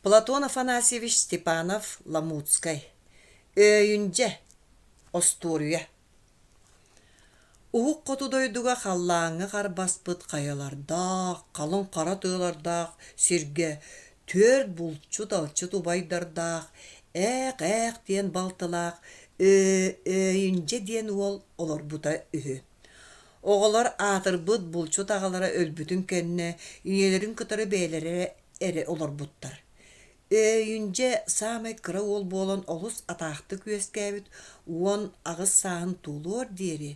платон афанасьевич степанов ламутскай өйүндьэ остуоруйа уһук хоту дойдуга халлааҥҥа харбаспыт хайалардаах халыҥ хара тыалардаах сиргэ түөрт булчут алчыт убайдардаах ээх ээх диэн балтылаах өйүндьэ диэн уол олорбута үһү Оҕолор аатырбыт булчут аҕалара өлбүтүн кэннэ ийэлэрин кытары бэйэлэрэ эрэ олорбуттар. Өйүндьэ саамай кыра уол буолан олус атаахтык үөскээбит уон аҕыс сааһын туолуор диэри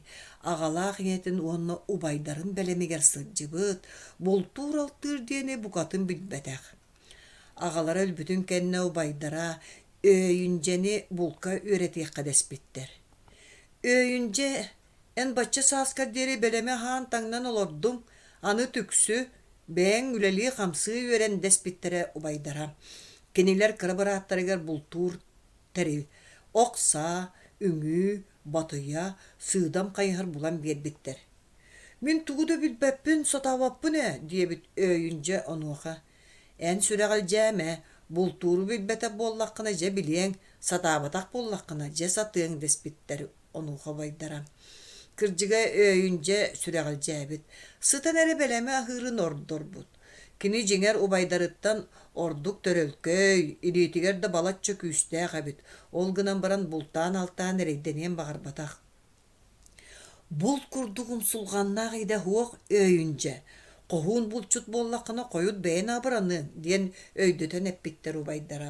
аҕалаах ийэтин уонна убайдарын бэлэмигэр сылдьыбыт, бултуур-алтыыр диэни букатын билбэтэх. Аҕалара өлбүтүн кэннэ убайдара Өйүндьэни булка үөрэтиэххэ дэспиттэр. Өйүндьэ Эн бачча сааскар диэри бэлэми аһаан-таҥнан олордуҥ, аны түксү, бэйэҥ үлэлии-хамсыы үөрэн дэспиттэрэ убайдара. Кинилэр кыра бырааттарыгар бултуур тэрил, ок-саа, үҥүү, батыйа, сыыдам хайыһар булан биэрбиттэр. «Мин тугу да билбэппин, сатаабаппын ээ» диэбит өйүн дьэ онуоха «Эн сүрэҕи дьэм ээ, бултууру билбэтэх буоллаххына дьэ билиэҥ, сатаабатах буоллаххына дьэ сатыаҥ» дэспиттэр онуоха убайдара кырдьыга өйүндьэ сүрэҕэлдьээбит сытан эрэ бэлэми аһыырын ордорбут кини дьиҥэр убайдарыттан ордук төрөлкөй илиитигэр да балачча күүстээх эбит ол гынан баран бултаан алтаан эрэйдэниэн баҕарбатах булт курдук умсулҕаннаах идэ суох өйүндьэ хоһуун булчут буоллаххына хойут бэйэн абыраныаҥ диэн өйдөтөн эппиттэр убайдара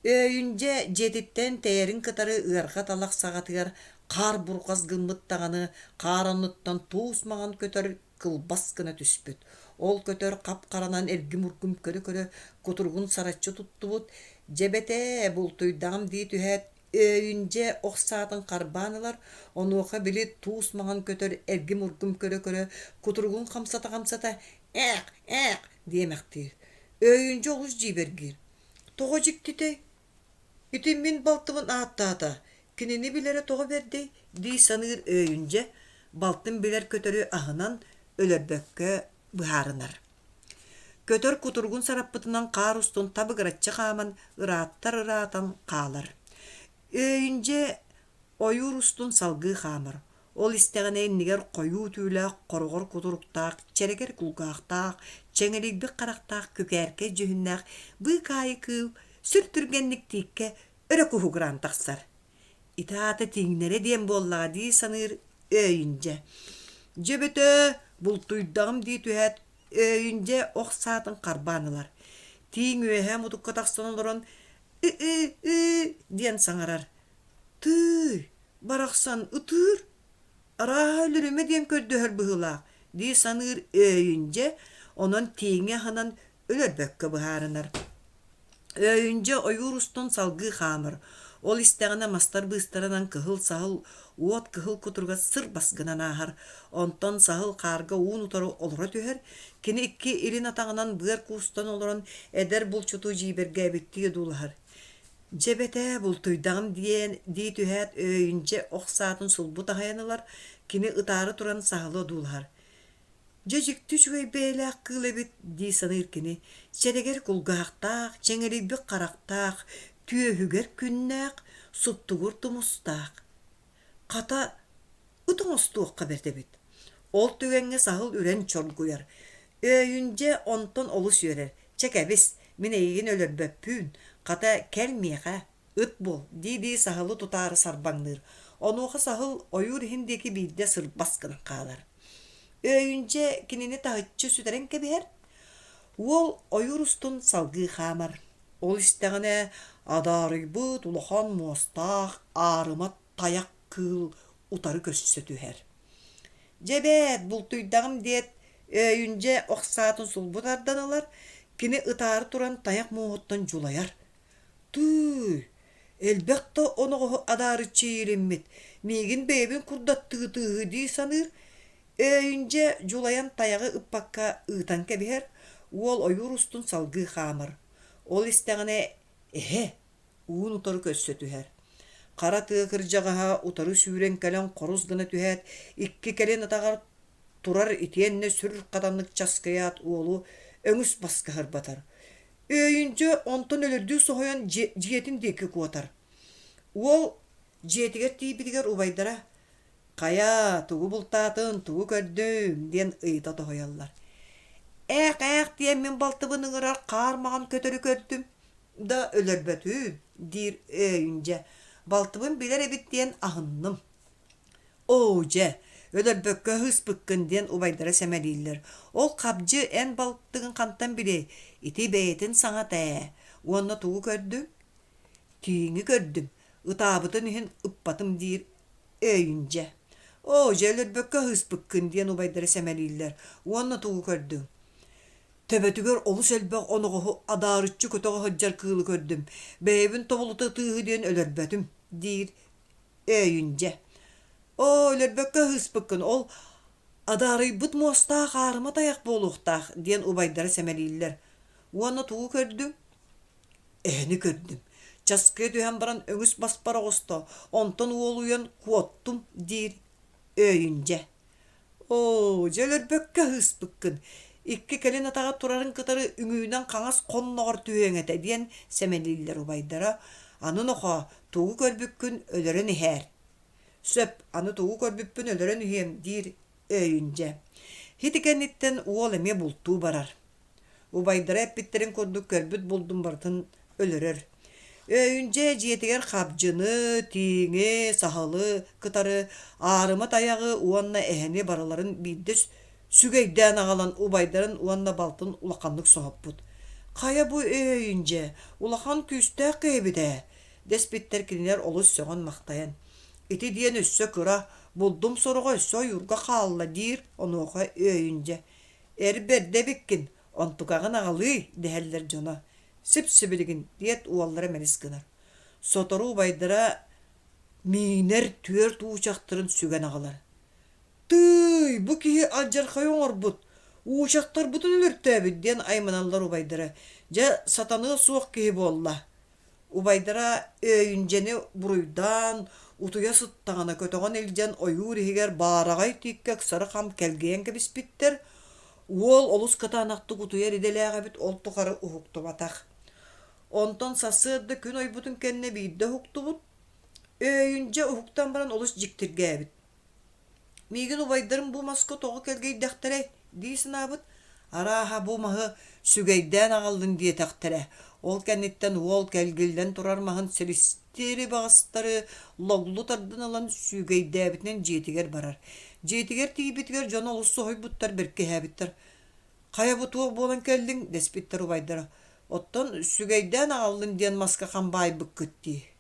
Өйүндьэ дьиэтиттэн тэйэрин кытары ыарҕа талах саҕатыгар хаар бурҕас гыммыт даҕаны, хаар оннуттан туус маҕан көтөр кылбас гына түспүт. Ол көтөр хап-харанан эргим-ургум көрө-көрө кутургун сараччы туттубут, Дьэбэтээ, бултуйдаҕым дии түһээт, Өйүндьэ ох саатын харбаан ылар, онуоха били туус маҕан көтөр эргим-ургум көрө-көрө кутургун хамсата-хамсата, Ээх, ээх! диэмэхтиир. Өйүндьэ олус дьиибэргиир. Тоҕо дьиктитэй? Ити мин балтыбын ааттаата, кинини билэрэ тоҕо бэрдэй дии саныыр өйүндьэ, балтын билэр-көтөрү аһынан, өлөрбөккө быһаарынар. Көтөр кутуругун сараппытынан хаар устун табыгыраччы хааман ырааттар-ыраатан хаалар. Өйүндьэ ойуур устун салгыы хаамар. Ол истэҕинэ иннигэр хойуу түүлээх, хороҕор кутуруктаах, чэрэгэр кулгаахтаах, чэҥэлийбит харахтаах күкээркэй дьүһүннээх быык аайы кыыл сүр түргэнник тииккэ өрө куһугураан тахсар. Ити аата тиҥнэрэ диэн буоллаҕа дии саныыр Өйүн дьэ. Дьэ бөтөө, бултуйдаҕым дии түһээт, Өйүн дьэ ох саатын харбаан ылар. Тииҥ үөһэ мутукка тахсан олорон ы-ы-ы диэн саҥарар. Тыый, барахсан ытыыр, арааһа өлүрүмэ диэн көрдөһөр быһыылаах дии саныыр Өйүн дьэ онон тииҥи аһынан өлөрбөккө быһаарынар. Өйүндьэ ойуур устун салгыы хаамар, ол истэҕинэ мастар быыстарынан кыһыл саһыл уот кыһыл кутуруга сыр баскынан ааһар, онтон саһыл хаарга уун утары олоро түһэр, кини икки илин атаҕынан быар куустан олорон эдэр булчуту дьиибэргээбиттии одуулаһар. Дьэ эбэтээ бултуйдаҕым диэн дии түһээт өйүнчэ ох саатын сулбу таһайан ылар, кини ытаары туран саһылы одуулаһар. Дьэ дьикти үчүгэй бэйэлээх кыыл эбит дии саныыр кини, чэрэгэр кулгаахтаах, чэҥэлийбит харахтаах, түөһүгэр күннээх, суптугур тумустаах. Хата, ыт оҥостуохха бэрт эбит. Ол түгэҥҥэ саһыл үрэн чоргуйар. Өйүн дьэ онтон олус үөрэр. Чэ кэбис, мин эйигин өлөрбөппүүн, хата кэл миэхэ, ыт буол, дии-дии саһылы тутаары сарбаҥныыр. Онуоха саһыл ойуур иһин диэки биирдэ сырбас гынан хаалар. Өйүн дьэ кинини таһыччы сүтэрэн кэбиһэр. Уол ойуур устун салгыы хаамар. Ол истэҕинэ адаарыйбыт улахан муостаах аарыма тайах кыыл утары көрсө түһэр. Дьэ эбээт, бултуйдаҕым диэт, Өйүндьэ ох саатын сулбу тардан ылар, кини ытаары туран тайах муоһуттан дьулайар. Тыый, элбэх да оноҕоһу адаарыччы иилиммит, миигин бэйэбин курдаттыы тыыһыы дии саныыр, Өөйүндьэ дьулайан тайаҕы ыппакка ыытан кэбиһэр, уол ойуур устун салгыы хаамар. Ол истэҕинэ, эһэ, уун утары көрсө түһэр. Хара тыа кырдьаҕаһа утары сүүрэн кэлэн хорус гына түһээт, икки кэлин атаҕар турар итиэннэ сүр хатаннык часкыйаат уолу өҥүс баскаһар батар. Өөйүндьэ онтон өлөрдүү соһуйан дьиэтин диэки куотар. Уол дьиэтигэр тиийбитигэр убайдара Хайа, тугу бултаатыҥ, тугу көрдүҥ? диэн ыйыта тоһуйаллар. Ээх-ээх диэн мин балтыбын ыҥырар хаар маҕан көтөрү көрдүм да өлөрбөтүм, диир Өйүн дьэ, балтыбын билэр эбит диэн аһынным. Оо дьэ, өлөрбөккө ыһыспыккын диэн убайдара сэмэлииллэр. Ол хабдьы эн балтыгын хантан билиэй, ити бэйэтин саҥата ээ. Уонна тугу көрдүҥ? Тииҥи көрдүм. Ытаабытын иһин ыппатым диир Өйүндьэ. Оо, дьэ өлөрбөккө ыһыспыккын, диэн убайдара сэмэлииллэр уонна тугу көрдүҥ? Төбөтүгэр олус элбэх оноҕоһу адаарыччы көтөҕө сылдьар кыылы көрдүм. Бэйэбин тобулута ытыыһы диэн өлөрбөтүм, диир Өйүндьэ. Оо, өлөрбөккө ыһыспыккын, ол адаарыйбыт муостаах аарыма тайах буолуохтаах, диэн убайдара сэмэлииллэр уонна тугу көрдүҥ? Эһэни көрдүм. Часкыа түһэн баран өҥүс баспар оҕосто, онтон уолуйан куоттум, диир Өйүн дьэ. Оо, дьэ өлөрбөккө ыһыспыккын. Икки кэлин атаҕа турарын кытары үҥүүнэн хаҥас хонноҕор түһүөҥ этэ, диэн сэмэлииллэр убайдара. Аны нохоо, тугу көрбүккүн өлөрөн иһээр. Сөп, аны тугу көрбүппүн өлөрөн иһиэм, диир Өйүн дьэ. Ити кэнниттэн уол эмиэ бултуу барар. Убайдара эппиттэрин курдук көрбүт-булдун барытын өлөрөр. Өйүнчэ дьиэтигэр хабдьыны, тииҥи, саһылы кытары аарымы-тайаҕы уонна эһэни барыларын биирдэ сүгэйдээн аҕалан убайдарын уонна балтын улаханнык соһуппут. Хайа бу өйүнчэ улахан күүстээх киһибит ээ, дэспиттэр кинилэр олус сөҕөн-махтайан. Ити диэн өссө кыра булдум сороҕо өссө ойуурга хаалла диир онуоха өйүнчэ Эр бэрдэ эбиккин, онтукаҕын аҕалыый, дэһэллэр дьоно. Сип-сибилигин, диэт уоллара мэлис гынар. Сотору убайдара миинэр түөрт уучахтарын сүгэн аҕалар. «Тыый, бу киһи алдьархайы оҥорбут, уучахтарбытын өлөртөөбүт» диэн айманаллар убайдара. Дьэ, сатаныа суох киһи буолла. убайдара Өйүнчэни буруйдаан, утуйа сыттаҕына көтөҕөн илдьэн ойуур иһигэр баараҕай тииккэ ыксары хам кэлгийэн кэбиспиттэр. Уол олус кытаанахтык утуйар идэлээх эбит, ол тухары уһуктубатах. Онтон сарсыарда күн ойбутун кэннэ биирдэ уһуктубут. Өйүнчэ уһуктан баран олус дьиктиргээбит. Миигин убайдарым бу маска тоҕо кэлгийдэхтэрэй? дии санаабыт, арааһа бу маһы сүгэйдээн аҕаллын диэтэхтэрэ. Ол кэнниттэн уол кэлгиллэн турар маһын силистиэри баҕастары логлу тардан ылан сүүгэйдээбитинэн дьиэтигэр барар. Дьиэтигэр тиийбитигэр дьоно олус соһуйбуттар бэркиһээбиттэр. «Хайа бу туох буолан кэллиҥ?» дэспиттэр убайдара. «Оттон сүгэйдээн аҕаллын диэн маска хам баайбыккыт дии»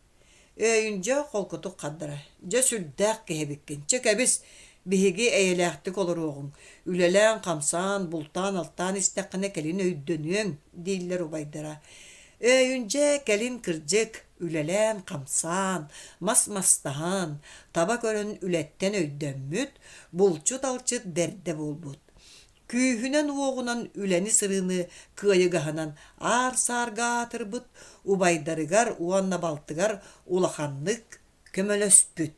Өйүн дьэ холкутук хардара. Дьэ сүрдээх киһи эбиккин. Чэ кэбис, биһиги эйэлээхтик олоруоҕуҥ. Үлэлээн-хамсаан, бултаан-алтаан истэххинэ кэлин өйдөнүөҥ, дииллэр убайдара. Өйүн дьэ кэлин кырдьык, үлэлээн-хамсаан, мас мастаһан, таба көрөн үлэттэн өйдөммүт, булчут-алчыт бэрдэ буолбут. күүһүнэн-уоҕунан үлэни-сырыыны кыайыгаһынан аар-саарга аатырбыт убайдарыгар уонна балтыгар улаханнык көмөлөспүт.